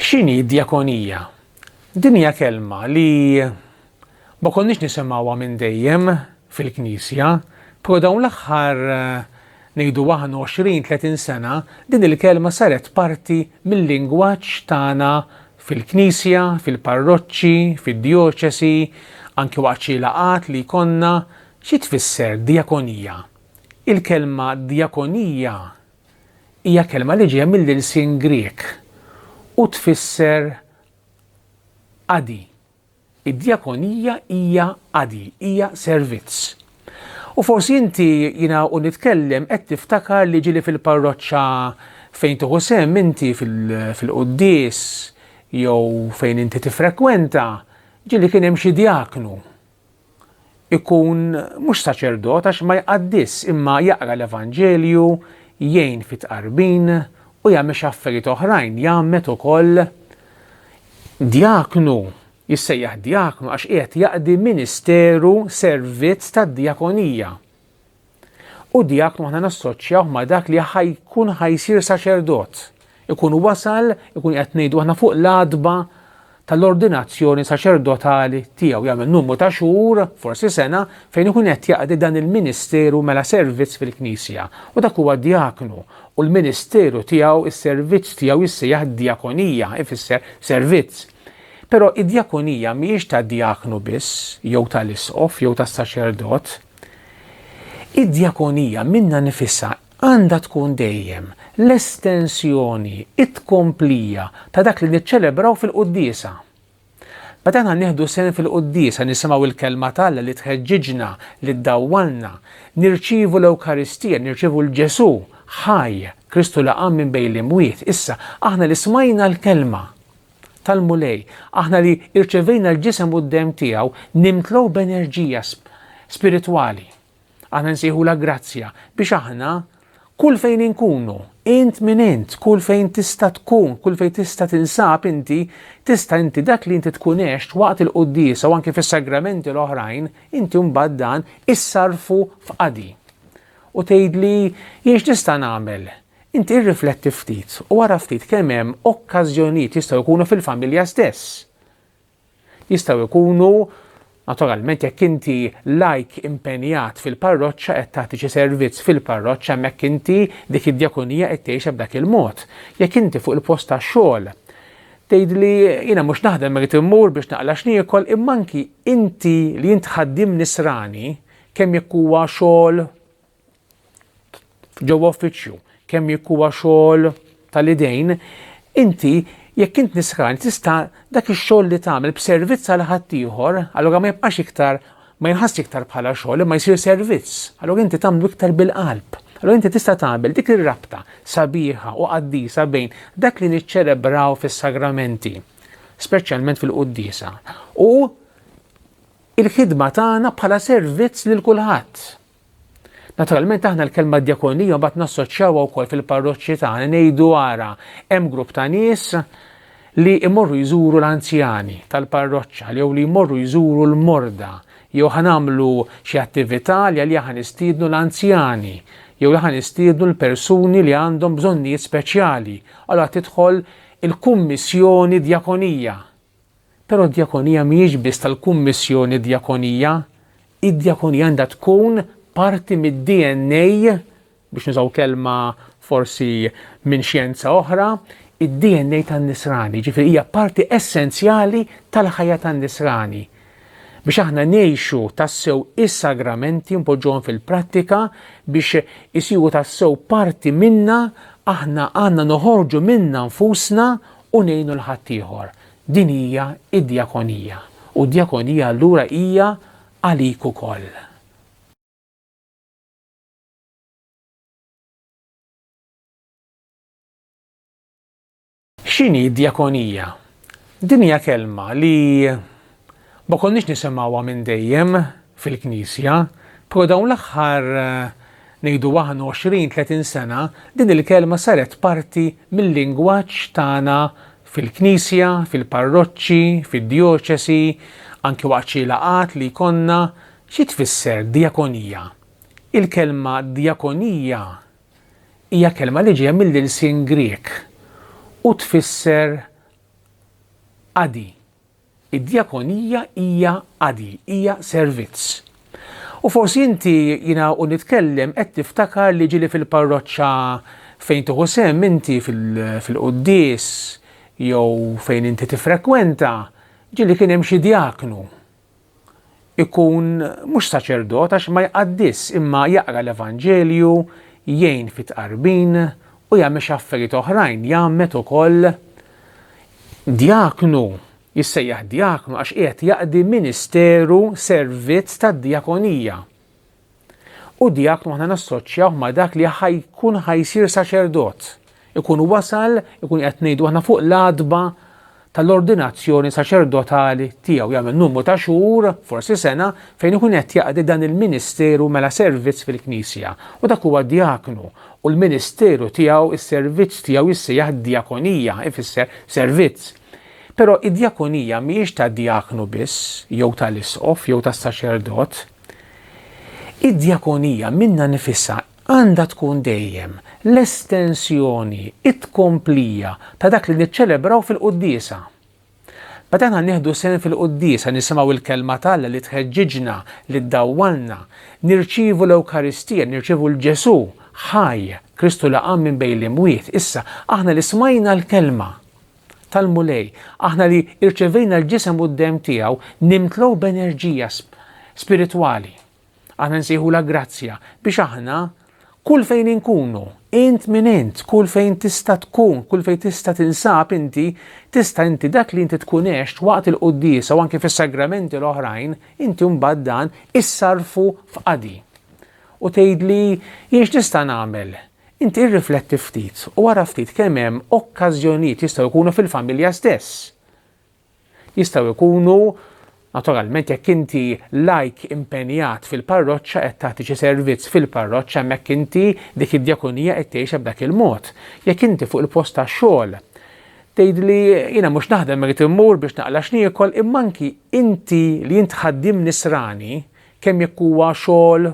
X'inhi d-djakonija? Din hija kelma li ma konniex nisimgħuha minn dejjem fil-Knisja, però dawn l-aħħar ngħidu aħna 20, 30 sena din il-kelma saret parti mil-lingwaġġ tagħna fil-Knisja, fil-parroċċi, fid-djoċesi, anki waqt xi laqgħat li jkollna Xi tfisser djakonija? Il-kelma djakonija hija kelma li ġejja mill-ilsien Grieg u tfisser qadi. Id-djakonija hija qadi, hija servizz. U forsi inti jiena u nitkellem qed tiftakar li ġieli fil-parroċċa fejn tieħu sehem inti fil-quddies jew fejn inti tiffrekwenta, ġieli kien hemm xi djaknu. ikun mhux saċerdot għax ma jqaddis imma jaqra l-Evanġelju, jgħin fit-tqarbin u jagħmel xi affarijiet oħrajn, jgħammed ukoll. Djaknu, jissejjaħ djaknu għax qiegħed jaqdi ministeru, servizz tad-djakonija. U dijaknu aħna nassoċjawh ma' dak li ħajkun ħajsir saċerdot. Ikun wasal, ikun qed ngħidu aħna fuq l-adba tal-ordinazzjoni saċerdotali tiegħu jagħmel numru ta' xhur, forsi sena, fejn ikun qed jaqdi dan il-ministeru mela servizz fil-Knisja. U dak huwa dijaknu u l-ministeru tiegħu, is-servizz tiegħu jissejjaħ diakonija, ifisser servizz. Però id-diakonija mhijiex ta' diaknu biss, jew tal-isqof, jew tas-saċerdot, Id-djakonija minnha nifisha għandha tkun dejjem l-estensjoni, it-tkomplija ta' dak li niċċelebraw fil-quddiesa. Meta aħna nieħdu sehem fil-quddiesa nisimgħu l-Kelma t'Alla li tħeġġiġna, li ddawwalna, nirċievu l-Ewkaristija, nirċievu 'l Ġesù ħaj, Kristu li qam minn bejn l-imwiet. Issa, aħna li smajna l-Kelma, tal-Mulej, aħna li irċevejna l-ġisem u d-demm tiegħu, nimtlow b'enerġija spiritwali. Aħna nsejħu la grazzja biex aħna kull fejn inkunu, int minn int, kull fejn tista' tkun, kull fejn tista' tinsab inti, tista' inti dak li inti tkun għext waqt il-quddisa u anke fis-sagramenti l-oħrajn, inti mbagħad dan issarfu f'qadi. U tgħidli jiex tista' nagħmel Inti irrifletti ftit u ara ftit kemm hemm okkażjonijiet, jistgħu jkunu fil-familja stess. Jistgħu jkunu Naturalment jekk inti lajk impenjat fil-parroċċa qed tagħti xi servizz fil-parroċċa hemmhekk inti dik id-djakonija qed tgħixha b'dak il-mod. Jekk inti fuq il-post tax-xogħol tgħidli jiena mhux naħdem irid immur biex naqla' x'niekol imma anki inti li int ħaddiem nisrani kemm jekk huwa xogħol ġewwa uffiċċju, kemm jekk huwa xogħol tal-idejn, inti jekk int nisħran tista' dak ix-xogħol li tagħmel b'servizz għal ħaddieħor, allura ma jibqax iktar ma jinħass iktar bħala xogħol imma jsir servizz. Allura inti tagħmlu iktar bil-qalb. Allura inti tista' tagħmel dik ir-rabta sabiħa u qaddisa bejn dak li niċċelebraw fis-sagramenti, speċjalment fil-quddiesa, u il-ħidma tagħna bħala servizz lil kulħadd. Naturalment aħna l-kelma djakonija mbagħad nassoċjawha wkoll fil-parroċċi tagħna ngħidu ara hemm grupp ta' nies li jmorru jżuru l-anzjani tal-parroċċa jew li jmorru jżuru l-morda jew ħa nagħmlu xi attività li għaliha ħa nistiednu l-anzjani jew li ħa nistiednu l-persuni li għandhom bżonnijiet speċjali. Allora tidħol il-kummissjoni djakonija Però d-djakonija mhijiex biss tal-Kummissjoni Djakonija, id-djakonija għandha tkun parti mid-DNA biex nużaw kelma forsi minn xjenza oħra, id-DNA tan-Nisrani, ġifieri hija parti essenzjali tal-ħajja tan-Nisrani. Biex aħna ngħixu tassew is-sagramenti npoġġuhom fil-prattika biex isiru tassew parti minna aħna għandna noħorġu minna nfusna u ngħinu 'l ħaddieħor, din hija d-djakonija, u d-djakonija allura hija għalik ukoll. X'inhi d-djakonija? Din hija kelma li Ma konniex nisimgħuha minn dejjem fil-Knisja, pero' dawn l-aħħar ngħidu aħna 20, 30 sena din il-kelma saret parti mil-lingwaġġ tagħna fil-Knisja, fil-parroċċi, fid-djoċesi, anki waqt xi laqgħat li jkollna. Xi tfisser djakonija? Il-kelma djakonija hija kelma li ġejja mill-ilsien Grieg u tfisser qadi. Id-djakonija hija qadi, hija servizz. U forsi inti, jiena u nitkellem, qed tiftakar li ġieli fil-parroċċa fejn tieħu sehem inti fil-quddies jew fejn inti tiffrekwenta, ġieli kien hemm xi djaknu. ikun mhux saċerdot għax ma jqaddis imma jaqra l-Evanġelju, jgħin fit-tqarbin u jagħmel xi affarijiet oħrajn, jgħammed ukoll. Djaknu, jissejjaħ djaknu għax qiegħed jaqdi ministeru, servizz tad-djakonija. U djaknu aħna nassoċjawh ma' dak li ħajkun ħajsir saċerdot. Ikun wasal, ikun qed ngħidu aħna fuq l-adba tal-ordinazzjoni saċerdotali tiegħu jagħmel numru ta' xhur, forsi sena, fejn ikun qed jaqdi dan il-ministeru mela servizz fil-Knisja. U dak huwa djaknu u l-ministeru tiegħu, is-servizz tiegħu jissejjaħ djakonija, ifisser servizz. Però id-djakonija mhijiex tad-djaknu biss, jew tal-isqof, jew tas-saċerdot. Id-djakonija minnha nifisha għandha tkun dejjem l-estensjoni, it-tkomplija ta' dak li niċċelebraw fil-quddiesa. Meta aħna nieħdu sehem fil-quddiesa, nisimgħu l-kelma t'Alla li tħeġġiġna, li ddawwalna, nirċievu l-Ewkaristija, nirċievu 'l Ġesù ħaj, Kristu li qam minn bejn l-imwiet, issa, aħna li smajna l-kelma, tal-Mulej, aħna li rċevejna l-ġisem u d-demm tiegħu nimtlew b'enerġija spiritwali. Aħna nsejħulha grazzja biex aħna kull fejn inkunu, int minn int, kull fejn tista' tkun, kull fejn tista' tinsab inti, tista' inti dak li inti tkun għext waqt il-quddiesa u anke fis-sagramenti l-oħrajn, inti mbagħad dan issarfu f'qadi. U tgħidli jiex nista' nagħmel Inti irrifletti ftit u ara ftit kemm hemm okkażjonijiet, jistgħu jkunu fil-familja stess. Jistgħu jkunu, naturalment jekk inti lajk impenjat fil-parroċċa qed tagħti xi servizz fil-parroċċa hemmhekk inti dik id-djakonija qed tgħixha b'dak il-mod. Jekk inti fuq il-post tax-xogħol tgħidli jiena mhux naħdem irid immur biex naqla' x'niekol imma anki inti li int ħaddiem nisrani kemm jekk huwa xogħol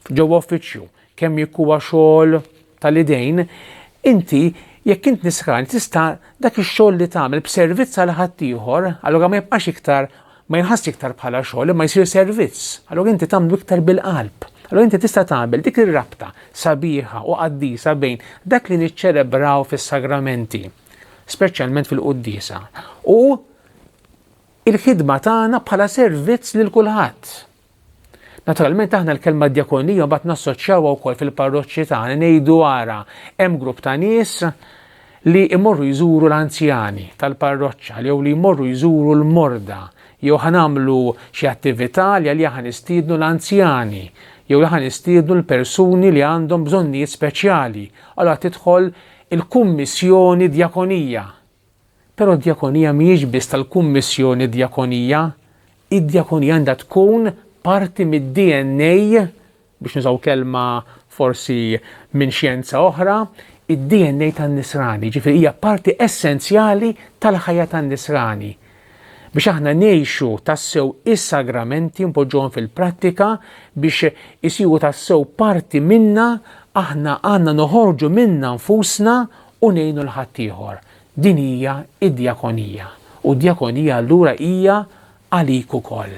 ġewwa uffiċċju, kemm jekk huwa xogħol tal-idejn, inti jekk int nisrani tista' dak ix-xogħol li tagħmel b'servizz għal ħaddieħor, allura ma jibqax iktar ma jinħass iktar bħala xogħol imma jsir servizz. Allura inti tagħmlu iktar bil-qalb. Allura inti tista' tagħmel dik ir-rabta sabiħa u qaddisa bejn dak li niċċelebraw fis-sagramenti, speċjalment fil-quddiesa, u il-ħidma tagħna bħala servizz lil kulħadd. Naturalment aħna l-kelma djakonija mbagħad nassoċjawha wkoll fil-parroċċi tagħna ngħidu ara hemm grupp ta' nies li jmorru jżuru l-anzjani tal-parroċċa jew li jmorru jżuru l-morda jew ħanamlu xi attività li għalija ħanistiednu l-anzjani jew li ħanistiednu l-persuni li għandhom bżonnijiet speċjali. Allora tidħol il-kummissjoni djakonija Però d-djakonija mhijiex biss tal-Kummissjoni Djakonija, id-djakonija għandha tkun parti mid-DNA biex nużaw kelma forsi minn xjenza oħra, id-DNA tan-Nisrani, ġifieri hija parti essenzjali tal-ħajja tan-Nisrani. Biex aħna ngħixu tassew is-sagramenti npoġġuhom fil-prattika biex isiru tassew parti minna aħna għandna noħorġu minna nfusna u ngħinu 'l ħaddieħor, din hija d-djakonija, u d-djakonija allura hija għalik ukoll.